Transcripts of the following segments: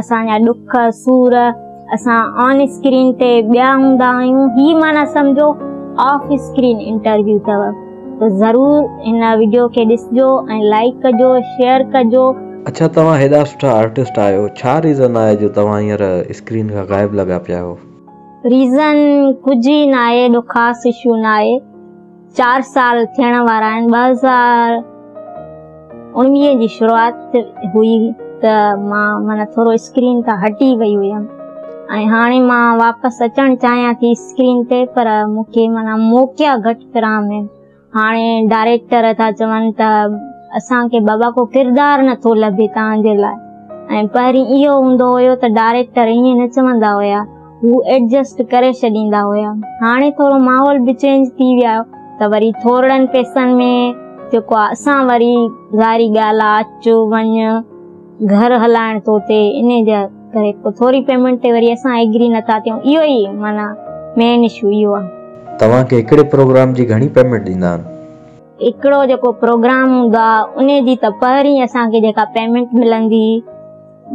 اسان جا ڏک سور اسان آن اسڪرين تي ٻيا هوندا آهيون هي معنيٰ سمجهو آف اسڪرين انٽرويو اٿو ته ضرور هن وڊيو کي ڏسجو ۽ لائيڪ ڪجو شيئر ڪجو. اڇا توهان هيڏا سٺا آرٽسٽ آهيو ڇا ريزن آهي جو توهان هينئر اسڪرين کان غائب لڳا پيا آهيو. ريزن ڪجهه ئي ناهي ايڏو خاص اشو ناهي. چار سال ٿيڻ وارا آهن، ٻه هزار اڻويهه جي شروعات هئي ته مان معنيٰ ٿورو اسڪرين تان هٽي وئي هئيم ۽ هاڻي مان واپس اچڻ چاهيان ٿي اسڪرين تي پر مون کي معنيٰ موقعا گهٽ فراهم آهن، هاڻي ڊائريڪٽر ٿا چون ته اسان کي بابا ڪو ڪردار نه ٿو لڀي تهان جي لاء ۽ پهرين اهو هوندو هيو ته ڊائريڪٽر ائين نه چوندا هيا. هو ايڊجسٽ ڪري ڇڏيندا هيا. هاڻي ٿورو ماحول به چينج ٿي ويو آهي ته وري ٿورڙن پئسن ۾ جيڪو آهي اسان وري ظاهري ڳالهه آهي اچ وڃ گهر هلائڻ ٿو ٿئي انهي جي ڪري پوء ٿوري پيمنٽ تي وري اسان ايگري نه ٿا ٿيون اهو ئي معنيٰ مين اشو اهو آهي. توهان کي هڪڙي پروگرام جي گهڻي پيمنٽ ڏيندا آهن؟ هڪڙو جيڪو پروگرام هوندو آهي انهي جي ته پهرين اسان کي جيڪا پيمنٽ ملندي.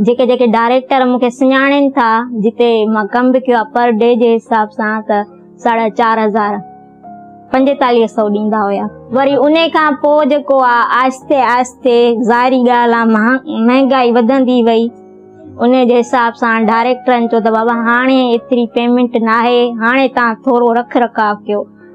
جيڪي جيڪي ڊائريڪٽر مون کي سڃاڻين ٿا جتي مان ڪم به ڪيو آهي پر ڊي جي حساب سان ته ساڍا چار هزار پنجيتاليهه سئو ڏيندا هيا وري ان کان پوء جيڪو آهي آهستي آهستي ظاهري ڳالهه آهي مهانگائي وڌندي وئي ان جي حساب سان ڊائريڪٽرن چيو ته بابا هاڻي ايتري پيمنٽ ناهي هاڻي تان ٿورو رک رکاء ڪيو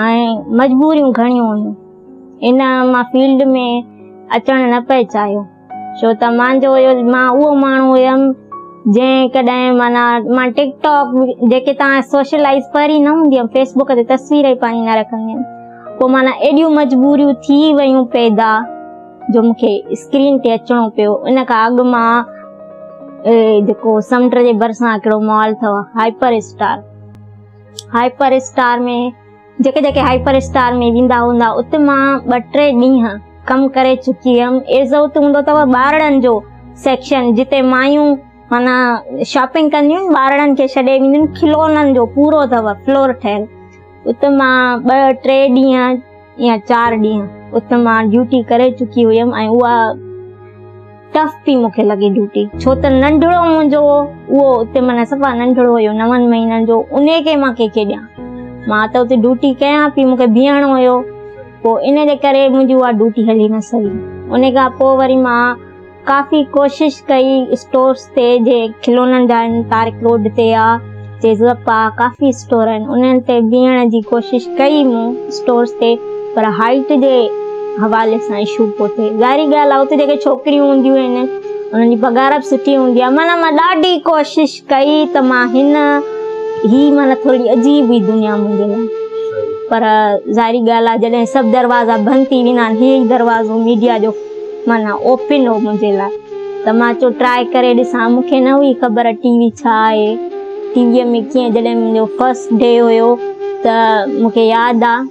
۽ مجبوريون گهڻيون هيون. ان مان فيلڊ ۾ اچڻ نه پئي چاهيو ڇو ته مان جو هيس مان اهو ماڻهو هيم جنهن ڪڏهن معنيٰ مان ٽڪ ٽاڪ جيڪي تان سوشلائز پري نه هوندي هيم فيس بڪ تي تصوير ئي پنهنجي نه رکندي هيم پوء معنيٰ ايڏيون مجبوريون ٿي ويون پيدا جو مون کي اسڪرين تي اچڻو پيو ان کان اڳ مان جيڪو سمنڊ جي ڀرسان هڪڙو مال اٿو هائپر اسٽار هائپر اسٽار ۾ جيڪي جيڪي هائپر اسٽار ۾ ويندا هوندا اتي مان ٻه ٽي ڏينهن ڪم ڪري چڪي هيم ايز اتي هوندو اٿو ٻارڙن جو سيڪشن جتي مايون مانا شاپنگ ڪنديون ٻارڙن کي ڇڏي وينديون کلونن جو پورو اٿو فلور ٺهيل اتي مان ٻه ٽي ڏينهن يا چار ڏينهن اٿ مان ڊيوٽي ڪري چڪي هيم ۽ اها ٽف پي مون کي لڳي ڊيوٽي ڇو ته ننڍڙو منهنجو اهو اتي معنيٰ صفا ننڍڙو هيو نون مهينن جو انهي کي مان ڪنهن کي ڏيان مان ته اتي ڊيوٽي ڪيان پي مون کي بيهڻو هيو پوء ان جي ڪري منهنجي اها ڊيوٽي هلي نه سگهي انهي کان پوء وري مان ڪافي ڪوشش ڪئي اسٽورس تي جي کلونن جا آهن طارق روڊ تي آ جي زپ آ ڪافي اسٽور آهن انهن تي بيهڻ جي ڪوشش ڪئي مون اسٽورس تي پر هائيٽ جي حوالي سان اشو پيو ٿئي ظاهري ڳالهه آ اتي جيڪي ڇوڪريون هونديون آهن انهن جي پگهار به سٺي هوندي آ معنيٰ مان ڏاڍي ڪوشش ڪئي ته مان هن هي معنيٰ ٿوري عجيب ئي دنيا منهنجي لاء پر ظاهري ڳالهه آهي جڏهن سڀ دروازا بند ٿي ويندا آهن هي دروازو ميڊيا جو معنيٰ اوپن هو منهنجي لاء ته مان چيو ٽرائي ڪري ڏسان مون کي نه هئي خبر ٽي وي ڇا آهي ٽي ويء ۾ ڪيئن جڏهن منهنجو فرسٽ ڊي هيو ته مون کي ياد آهي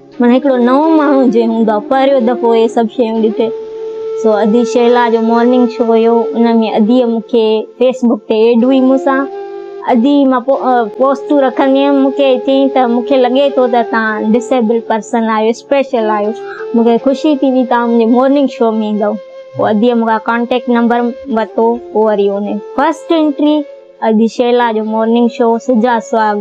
مون هڪڙو نئون ماڻهو جي هوندو پهريون دفعو اهي سڀ شيون ڏٺي سو ادي شيلا جو مارننگ شو هيو ان ۾ ادي مون کي فيس بڪ تي ايڊ هئي مون سان ادي مان پوسٽون رکندي هيم مون کي چيائين ته مون کي لڳي ٿو ته تان ڊسيبل پرسن آهيو اسپيشل آهيو مون کي خوشي ٿي وي تان منهنجي مارننگ شو ۾ ايندو پوء ادي مون کان ڪانٽيڪٽ نمبر ورتو پوء وري ان فرسٽ انٽري اڄ شيلا جو مارننگ شو سجا سهاڳ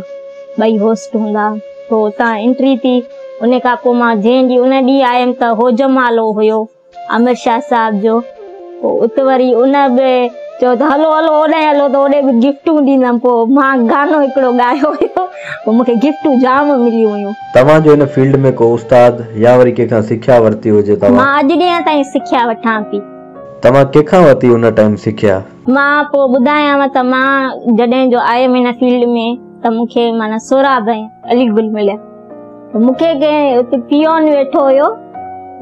ٻئي هوسٽ هوندا تو اتان انٽري ٿي ان کان پوء مان جنهن ڏينهن ان ڏينهن آيم ته هو جمالو هيو امر شاهه صاحب جو پوء ات وري ان به چيو ته هلو هلو اوڏانهن هلو ته اوڏي به گفٽون ڏيندم پوء مان گانو هڪڙو ڳايو هيو پوء مون کي گفٽون جام مليون هيون. توهان جو ان فيلڊ ۾ ڪو استاد يا وري ڪنهن کان سکيا ورتي هجي توهان؟ مان اڄ ڏينهن تائين سکيا وٺان ٿي. توهان ڪنهن کان ورتي ان ٽائيم سکيا؟ مان پوء ٻڌايانء ته مان جڏهن جو آيم هن فيلڊ ۾ ته مون کي معنيٰ سهراب ۽ علي گل مليا ته مون کي ڪنهن اتي پيئون ويٺو هيو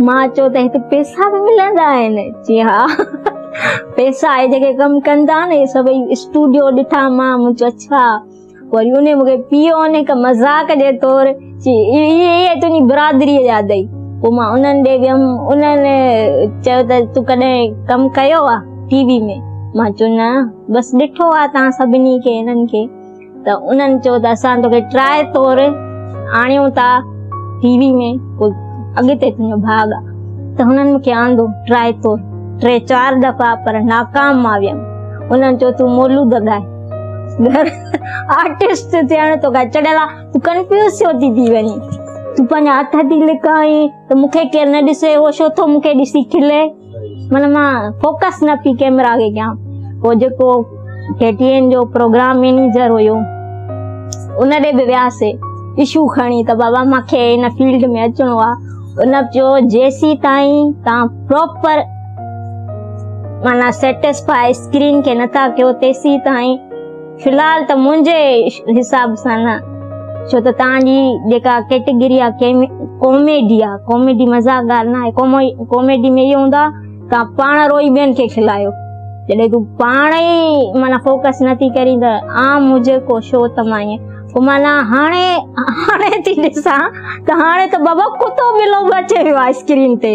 مان چيو ته هتي پيسا به ملندا آهن؟ چي ها پيسا اهي جيڪي ڪم ڪندا آهن اهي سڀئي اسٽوڊيو ڏٺا مان مون چيو اڇا وري انهي مون کي پيو ۽ هڪ مذاق جي طور چي، اهي تنهنجي برادريء جا اٿئي. پوء مان انهن ڏي ويم. انهن چيو ته، تون ڪڏهن ڪم ڪيو آهي ٽي وي ۾؟ مان چيو، نه، بس ڏٺو آهي توهان سڀني کي انهن کي. ته انهن چيو ته، اسان توکي ٽرائي طور آڻيون ٿا ٽي وي ۾، پوء اڳتي تنهنجو ڀاڳ آهي. ته هنن مون کي آندو ٽرائي طور. ٽي چار دفعا پر ناڪام مان ويم. انهن چيو، تون مولود ڳاء. آرٽسٽ ٿيڻ تو کان چڙيل آ تو ڪنفيوز ڇو ٿي ٿي وڃي تو پنهنجا هٿ ٿي لڪائي ته مون کي ڪير نه ڏسي اهو ڇو ٿو مون کي ڏسي کلي مطلب مان فوڪس نه پي ڪيمرا کي ڪيان پوء جيڪو ٽي ٽي اين جو پروگرام مينيجر هيو ان ڏي به وياسي ايشو کڻي ته بابا مونکي ان فيلڊ ۾ اچڻو آ ان چيو جيسي تائين تان پراپر معنيٰ سيٽسفاء اسڪرين کي نه ٿا ڪيو تيسين تائين في الحال ته منهنجي حساب سان نه ڇو ته تان جي جيڪا ڪيٽيگري آهي ڪاميڊي آهي ڪاميڊي مذاق ڳالهه نه آهي ڪاميڊي ۾ اهو هوندو آهي تان پاڻ روئي ٻين کي کلايو جڏهن تون پاڻ ئي معنيٰ فوڪس نه ٿي ڪرين ته عام هجي ڪو شو ته مان ائين پوء معنيٰ هاڻي هاڻي ٿي ڏسان ته هاڻي ته بابا ڪتو ٻلو به اچي ويو آهي اسڪرين تي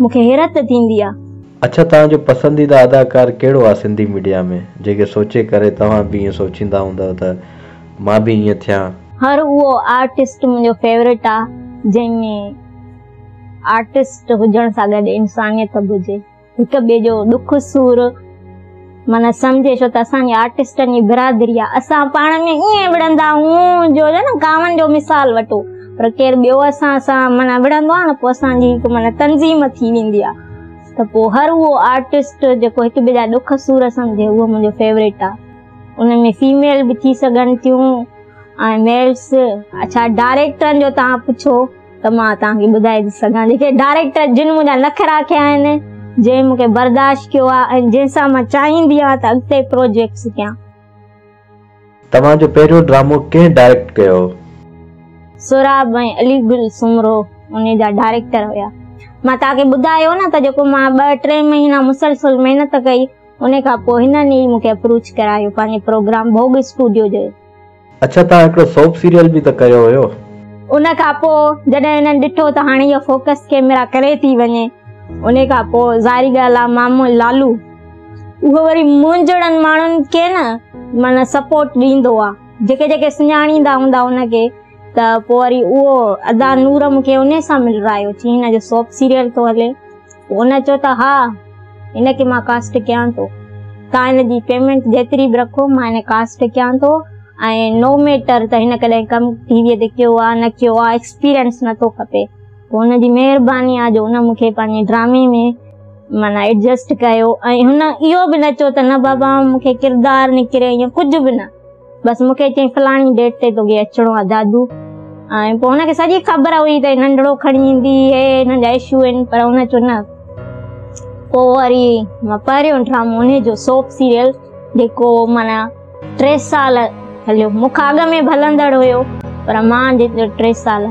مون کي حيرت ٿيندي آ. اڇا توهان جو پسنديده اداڪار ڪهڙو آ سنڌي ميڊيا ۾ جيڪي سوچي ڪري توهان به ائين سوچيندا هوندؤ ته مان به ائين ٿيان. هر اهو آرٽسٽ منهنجو فيورٽ آ جنهن ۾ آرٽسٽ هجڻ سان گڏ انسانيت به هجي هڪ ٻئي جو ڏک سور. من سمجهي ڇو ته اسان جي آرٽسٽن جي برادري آهي اسان پاڻ ۾ ائين وڙهندا آهيون جو نه ڪاون جو مثال وٺو پر ڪير ٻيو اسان سان من وڙهندو آهي نه پوء اسان جي هڪ من تنظيم ٿي ويندي آهي ته پوء هر اهو آرٽسٽ جيڪو هڪ ٻئي جا ڏک سور سمجهي اهو منهنجو فيوريٽ آهي ان ۾ فيميل به ٿي سگهن ٿيون ۽ ميلس اڇا ڊائريڪٽرن جو تان پڇو ته مان توهان کي ٻڌائي ٿي سگهان جيڪي ڊائريڪٽر جن منهنجا نخرا ڪيا آهن جنهن مون کي برداشت ڪيو آهي ۽ جنهن سان مان چاهيندي آهيان ته اڳتي پروجيڪٽس ڪيان. توهان جو پهريون ڊرامو ڪنهن ڊائريڪٽ ڪيو هو؟ سهراب ۽ علي گل سومرو انهي جا ڊائريڪٽر هيا. مان توهان کي ٻڌايو نه ته جيڪو مان ٻه ٽي مهينا مسلسل محنت ڪئي انهي کان پوء هنن ئي مون کي اپروچ ڪرايو پنهنجي پروگرام ڀوڳ اسٽوڊيو جو. اڇا توهان هڪڙو سوپ سيريل به ته ڪيو هيو. ان کان پوء جڏهن هنن ڏٺو ته هاڻي اهو فوڪس ڪيمرا ڪري ٿي وڃي ان کان پوء ظاهري ڳالهه آهي مامو لالو اهو وري مونجهڙن ماڻهن کي نه معنيٰ سپورٽ ڏيندو آهي جيڪي جيڪي سڃاڻيندا هوندا ان کي ته پوء وري اهو ادا نور مون کي انهي سان ملرايو چي هن جو سوپ سيريل ٿو هلي. هن چيو ته ها هن کي مان ڪاسٽ ڪيان ٿو توهان هن جي پيمينٽ جيتري به رکو مان هن ڪاسٽ ڪيان ٿو ۽ نو ميٽر ته هن ڪڏهن ڪم ٽي وي تي ڪيو آهي نه ڪيو آهي ايڪسپيرينس نه ٿو کپي پوء هن جي مهرباني آهي جو هن مون کي پنهنجي ڊرامي ۾ معنيٰ ايڊجسٽ ڪيو ۽ هن اهو به نه چيو ته نه بابا مون کي ڪردار نڪري يا ڪجهه به نه بس مون کي چيائين فلاڻي ڊيٽ تي توکي اچڻو آهي دادو ۽ پوء هن کي سڄي خبر هئي ته ننڍڙو کڻي ايندي هي هن جا اشو آهن پر هن چيو نه پوء وري پهريون ڊرامو ان جو سوپ سيريل جيڪو مانا ٽي سال هليو مون کان اڳ ۾ به هلندڙ هيو پر مان جيترو ٽي سال